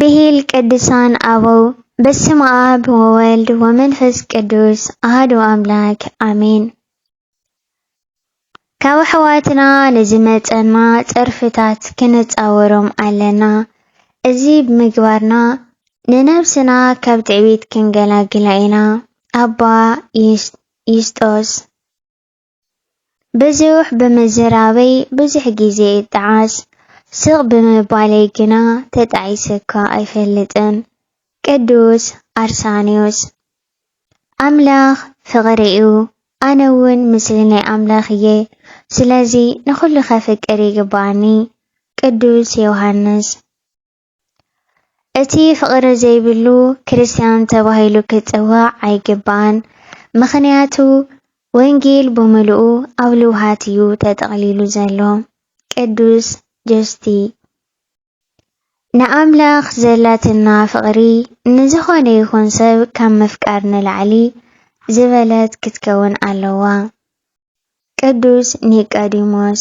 ብሂል ቅዱሳን ኣበው በስመ ኣብ ወወልድ ወመንፈስ ቅዱስ ኣህዶ ኣምላክ ኣሜን። ካብ ኣሕዋትና ንዝመፀና ፀርፍታት ክንፃወሮም ኣለና። እዚ ብምግባርና ንነብስና ካብ ትዕቢት ክንገላግላ ኢና። ኣባ ዩስጦስ ብዙሕ ብምዝራበይ ብዙሕ ግዜ እጠዓስ፣ ስቕ ብምባለይ ግና ተጣዒሰካ ኣይፈልጥን። ቅዱስ ኣርሳንዮስ። ኣምላኽ ፍቕሪ'ዩ፣ ኣነ'ውን ምስሊ ናይ ኣምላኽ እየ፣ ስለዚ ንኹሉ ከፍቅር ይግብኣኒ። ቅዱስ ዮሃንስ። እቲ ፍቕሪ ዘይብሉ ክርስትያን ተባሂሉ ክጽዋዕ ኣይግባእን፣ ምኽንያቱ ወንጌል ብምሉኡ ኣብ ልውሃት እዩ ተጠቕሊሉ ዘሎ። ቅዱስ ጆስቲ ንኣምላኽ ዘላትና ፍቕሪ ንዝኾነ ይኹን ሰብ ካብ ምፍቃር ንላዕሊ ዝበለት ክትከውን ኣለዋ። ቅዱስ ኒቃዲሞስ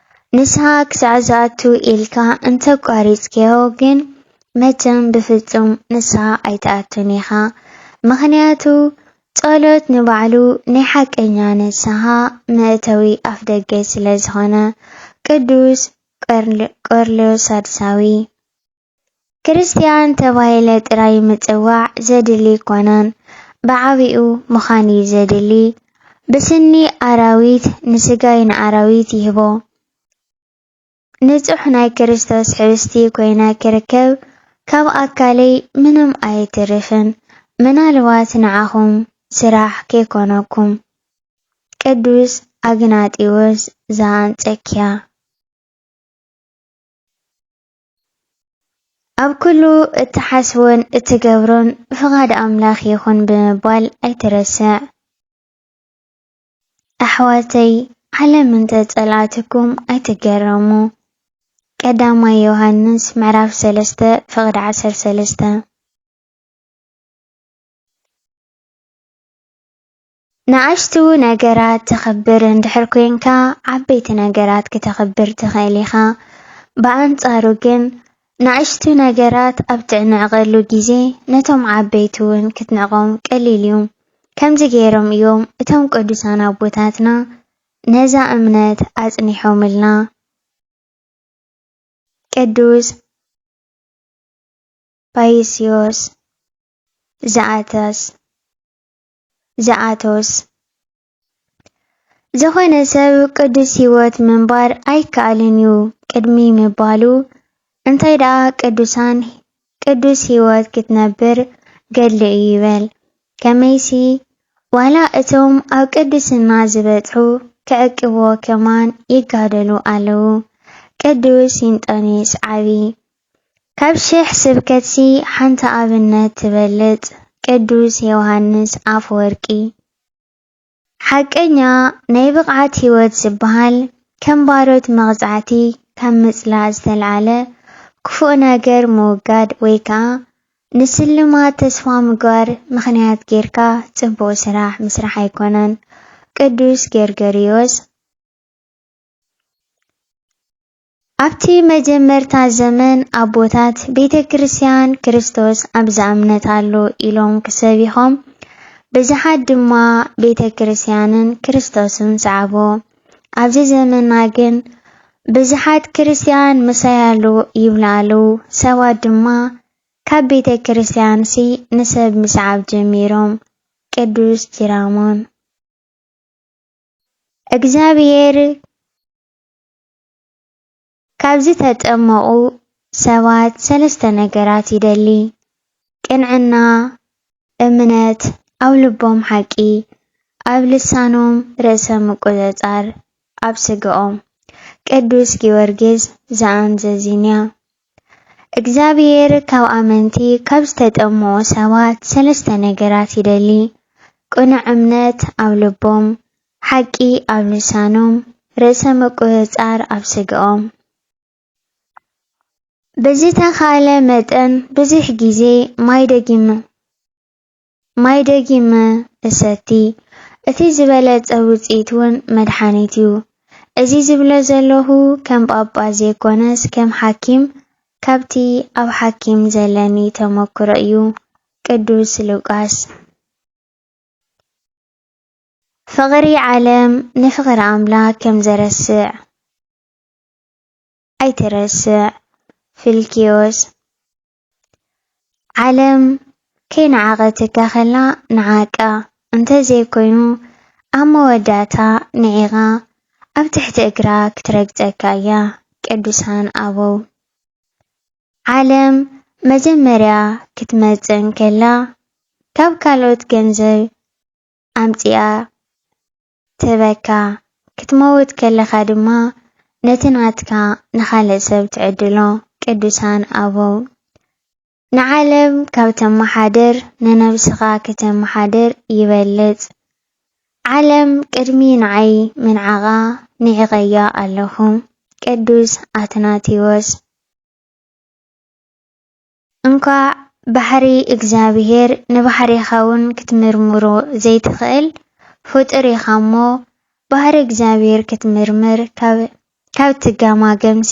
ንስሃ ክሳዕ ዝኣቱ ኢልካ እንተ ኣቋሪጽካዮ ግን መቸም ብፍጹም ንስሃ ኣይትኣቱን ኢኻ ምኽንያቱ ጸሎት ንባዕሉ ናይ ሓቀኛ ንስሃ መእተዊ ኣፍደገ ስለ ዝኾነ ቅዱስ ቆርንልዮስ ሳድሳዊ ክርስትያን ተባሂለ ጥራይ ምጽዋዕ ዘድሊ ኣይኮነን፣ ብዓቢኡ ምኻን እዩ ዘድሊ። ብስኒ ኣራዊት ንስጋይ ንኣራዊት ይህቦ። ንጹሕ ናይ ክርስቶስ ሕብስቲ ኮይነ ክርከብ ካብ ኣካለይ ምንም ኣየትርፍን፣ ምናልባት ንዓኹም ስራሕ ከይኮነኩም። ቅዱስ ኣግናጢዎስ ዘኣንጸኪያ። ኣብ ኩሉ እትሓስቦን እትገብሮን ብፍቓድ ኣምላኽ ይኹን ብምባል ኣይትረስዕ። ኣሕዋተይ ዓለም እንተ ጸልኣትኩም ኣይትገረሙ። ቀዳማይ ዮሃንስ ምዕራፍ ሰለስተ ፍቕድ ዓሰርተ ሰለስተ ንኣሽቱ ነገራት ተኽብር እንድሕር ኴንካ፣ ዓበይቲ ነገራት ክተኽብር ትኽእል ኢኻ። ብኣንጻሩ ግን፣ ንኣሽቱ ነገራት ኣብ ትዕንዕቐሉ ግዜ፣ ነቶም ዓበይቲ እውን ክትንዕቆም ቀሊል እዩ። ከምዚ ገይሮም እዮም እቶም ቅዱሳን ኣቦታትና ነዛ እምነት ኣጽኒሖምልና። ቅዱስ ባይስዮስ ዘኣተስ። ዝኣተወስ። ዝኾነ ሰብ ቅዱስ ሕይወት ምንባር ኣይከኣልን እዩ ቅድሚ ምባሉ እንታይ ደኣ ቅዱሳን ቅዱስ ሕይወት ክትነብር ገድሊ እዩ ይበል። ከመይሲ ዋላ እቶም ኣብ ቅድስና ዝበጽሑ ክዕቅብዎ ከማን ይጋደሉ ኣለዉ። ቅዱስ እንጦንዮስ ዓቢ ካብ ሽሕ ስብከትሲ ሓንቲ ኣብነት ትበልጽ ቅዱስ የውሃንስ ኣፈወርቂ። ሓቀኛ ናይ ብቕዓት ሕይወት ዝበሃል ከም ባሮት መቕጻዕቲ ካብ ምጽላእ ዝተልዓለ ክፉእ ነገር ምውጋድ ወይ ከኣ ንስልማት ተስፋ ምግባር ምኽንያት ጌርካ ጽቡቕ ስራሕ ምስራሕ ኣይኮነን ቅዱስ ጌርገርዮስ ኣብቲ መጀመርታ ዘመን ኣቦታት ቤተ ክርስቲያን ክርስቶስ ኣብ ዝኣምነታሉ ኢሎም ክሰቢኾም ብዙሓት ድማ ቤተ ክርስቲያንን ክርስቶስን ሰዓቡ። ኣብዚ ዘመና ግን ብዙሓት ክርስቲያን ምሳያሉ ይብሉ ኣለው፣ ሰባት ድማ ካብ ቤተ ክርስቲያንሲ ንሰብ ምስዓብ ጀሚሮም። ቅዱስ ጂራሞን። እግዚኣብሔር ካብ ዝተጠመቑ ሰባት ሰለስተ ነገራት ይደሊ፣ ቅንዕና፣ እምነት፣ ኣብ ልቦም ሓቂ፣ ኣብ ልሳኖም ርእሰ ምቁጽጻር፣ ኣብ ስጋኦም። ቅዱስ ጊዮርጊስ ዘኣንዘዚንያ። እግዚኣብሔር ካብ ኣመንቲ ካብ ዝተጠመቑ ሰባት ሰለስተ ነገራት ይደሊ፣ ቅኑዕ እምነት ኣብ ልቦም፣ ሓቂ ኣብ ልሳኖም፣ ርእሰ ምቁጽጻር ኣብ ስጋኦም። ብዝተኻእለ መጠን ብዙሕ ግዜ ማይ ደጊመ ማይ ደጊመ እሰቲ። እቲ ዝበለጸ ውጽኢት ውን መድሓኒት ዩ። እዚ ዝብሎ ዘለኹ ከም ጳጳስ ዘይኮነስ ከም ሓኪም ካብቲ ኣብ ሓኪም ዘለኒ ተመክሮ እዩ። ቅዱስ ሉቃስ። ፍቕሪ ዓለም ንፍቕሪ ኣምላክ ከም ዘረስዕ ኣይትረስዕ ፊልክዮስ ዓለም ከይነዓቐትካ ከላ ንዓቃ እንተ ዘይኮይኑ ኣብ መወዳእታ ንዒቓ ኣብ ትሕቲ እግራ ክትረግጸካ እያ ቅዱሳን ኣበው ዓለም መጀመርያ ክትመጽእ እንከላ ካብ ካልኦት ገንዘብ ኣምጺኣ ትህበካ፣ ክትመውት ከለኻ ድማ ነቲ ናትካ ንኻልእ ሰብ ትዕድሎ። ቅዱሳን ኣበው ንዓለም ካብ ተመሓድር ንነብስኻ ክተመሓድር ይበልጽ። ዓለም ቅድሚ ንዓይ ምንዓቓ ንዒቐያ ኣለኹ። ቅዱስ ኣትናቴዎስ። እንኳዕ ባሕሪ እግዚኣብሔር ንባሕሪኻ ውን ክትምርምሮ ዘይትኽእል ፍጡር ኢኻ እሞ ባህሪ እግዚኣብሔር ክትምርምር ካብ ካብ ትጋማገምሲ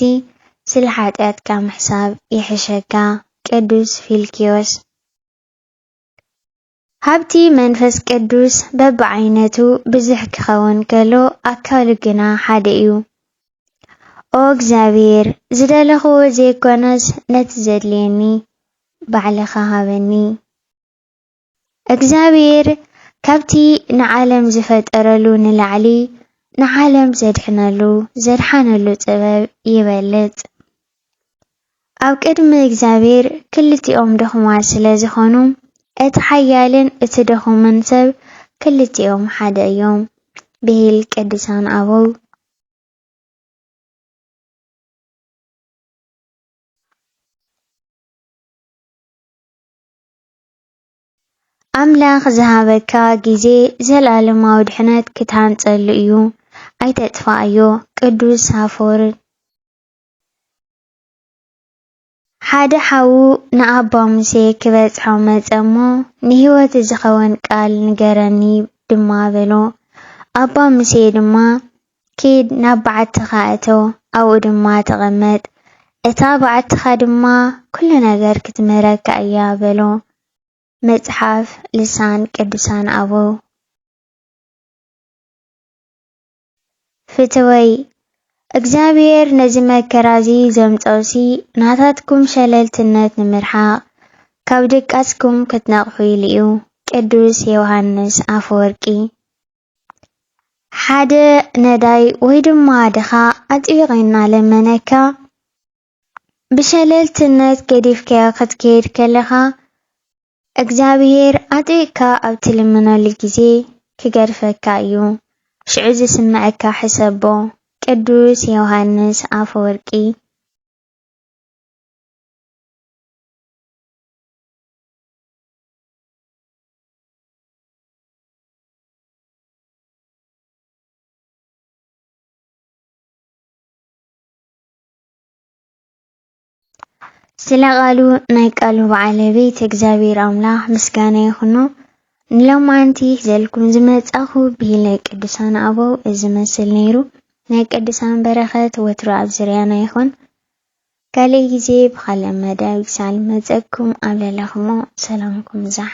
ስለ ሓጥያትካ ምሕሳብ ይሕሸካ ቅዱስ ፊልክዮስ። ሃብቲ መንፈስ ቅዱስ በብዓይነቱ ብዙሕ ኪኸውን ከሎ ኣካሉ ግና ሓደ እዩ። ኦ እግዚኣብሔር ዝደለኽዎ ዘይኮነስ ነቲ ዘድልየኒ ባዕልኻ ሃበኒ። እግዚኣብሔር ካብቲ ንዓለም ዝፈጠረሉ ንላዕሊ ንዓለም ዘድሕነሉ ዘድሓነሉ ጥበብ ይበልጽ። ኣብ ቅድሚ እግዚኣብሄር ክልቲኦም ድኹማት ስለ ዝኾኑ፣ እቲ ሓያልን እቲ ድኹምን ሰብ ክልቲኦም ሓደ እዮም ብሂል ቅዱሳን ኣበው። ኣምላኽ ዝሃበካ ግዜ ዘልኣለማዊ ድሕነት ክትሃንጸሉ እዩ ኣይተጥፍኣዮ ቅዱስ ሳፎርን። ሓደ ሓዉ ንኣባ ሙሴ ኪበጽሖ መጸ እሞ፣ ንህይወት ዚኸውን ቃል ንገረኒ ድማ በሎ። ኣባ ሙሴ ድማ፣ ኪድ፣ ናብ በዓትኻ እቶ፣ ኣብኡ ድማ ተቐመጥ፣ እታ በዓትኻ ድማ ኵሉ ነገር ክትምህረካ እያ በሎ። መጽሓፍ ልሳን ቅዱሳን ኣበው። ፍትወይ እግዚኣብሔር ነዚ መከራ እዚ ዘምጸኡሲ ናታትኩም ሸለልትነት ንምርሓቅ ካብ ድቃስኩም ክትነቅሑ ኢሉ እዩ ቅዱስ የውሃንስ ኣፈወርቂ ሓደ ነዳይ ወይ ድማ ድኻ ኣጥቢቀ እናለመነካ ብሸለልትነት ገዲፍካዮ ክትከይድ ከለኻ እግዚኣብሄር ኣጥቢቕካ ኣብ ትልምነሉ ግዜ ክገድፈካ እዩ። ሽዑ ዝስመዐካ ሕሰቦ። ቅዱስ ዮውሃንስ ኣፈወርቂ። ስለ ቃሉ ናይ ቃሉ ባዓለቤት እግዚኣብሔር ኣምላኽ ምስጋና ይኹኖ። ንሎማንቲ ዘልኩም ዝመጻኹ ብሂለ ቅዱሳን ኣበው እዚ መስል ነይሩ። ናይ ቅዱሳን በረኸት ወትሩ ኣብ ዝርያና ይኹን። ካልእ ግዜ ብኻልእ መደብ ክሳል መጸኩም ኣብ ለለኹሞ ሰላምኩም ይብዛሕ።